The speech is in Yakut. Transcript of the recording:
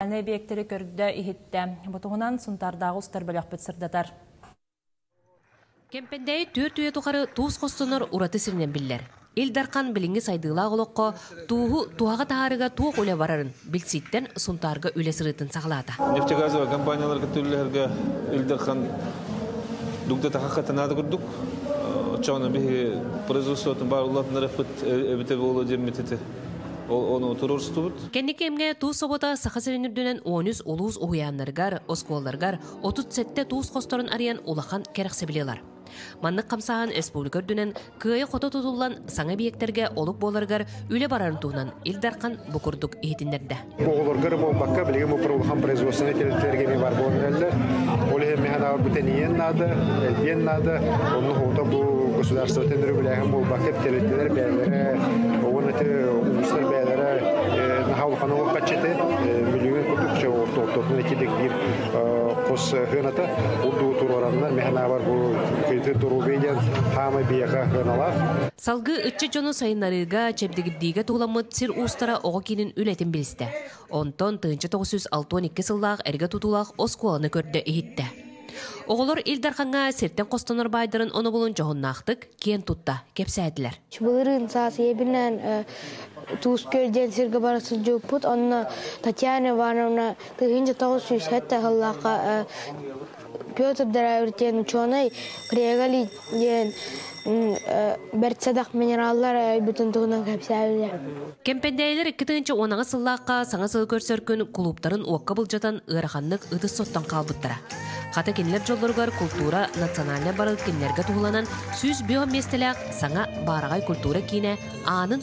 Аны эбиэктэри көрдө-иһиттэ. Бу туһунан Сунтаардааҕы устар бөлөхпүт сырдатар. Кэмпэндээйи түөрт үйэ тухары туус хостонор ураты сиринэн биллэр. Ил Дархан билиҥҥи сайдыылаах олоххо тууһу туһаҕа таһаарыыга туох үлэ барарын билсииттэн Сунтаарга үлэ сырыытын саҕалаата. Нефтегазовая компанияларга түллэһэргэ Ил Дархан дугда тахахха танаада курдук оччоҕуна биһи производствотын баарыллатынар эппит эбитэ буолуо диэммит ити Onu otururstubut. Кэнники эмҥэ туус собота Саха сирин үрдүнэн 13 улуус уһуйааннарыгар, оскуолаларыгар 37 туус хосторун арыйан улахан кэрэхсэбилилар. Маннык хамсаһан республика үрдүнэн кыайы-хото тутуллан саҥа объектэрге олук буоларыгар үлэ барарын туһунан Ил Дархан бу курдук иһитиннэрдэ. Оҕолорго эрэ буолбакка, билигин бу улахан производственнай тэрилтэлэргэ эмиэ бар буолан эрэллэр. Ол иһин мэһэн аҕалбыт энийиэн наада, элбиэн наада. Онно хоһута бу государствотын өрөбүлээһин буолбакка, тэрилтэлэр бэйэлэрэ уонна улуустар бэйэлэрэ наһаа улахан олоххаччыты мүлүҥүн курдук ортотун этилик биир хос хыаната урдугу туруораннар мэһэн аабар бу кыйытыр доруобуйа диэн хаамай биэка хыаналаах Салгыы ыччат дьону сайыннарыыга, чэбдигирдиигэ туһуламмыт сир уустара оҕо киинин үлэтин билистэ. Онтон тыһыынча тоҕус жүз алта уон икки сыллаах эргэ тутуулаах оскуоланы көрдө-иһиттэ. Оҕолор Ил Дархаҥҥа сиртэн хостонор баайдарын онобулун дьоһуннаахтык киэн тутта кэпсээтилэр. Былырыын саас ийэбинээн э, туус күөл диэн сиргэ бара сылдьыппыт. Онно Татьяна Ивановна тыһыынча тоҕус сүүс сэттэ сыллаахха э, Петр Драевич диэн учуонай Криогалий диэн бэртсэдэх минераллар айбытын туһунан кэпсээтэ. Кэмпэндээйилэр икки тыһыынча уонаҕыс сыллаахха саҥа сыл көрсөргүн кулууптарын уокка былдьатан ыараханнык ытыс соттон хаалбыттара. Хата кинилэр дьоллоругар култуура национальнай барылы кинилэргэ туһуланан сүүс бүөх миэстэлээх саҥа баараҕай культура киинэ аанын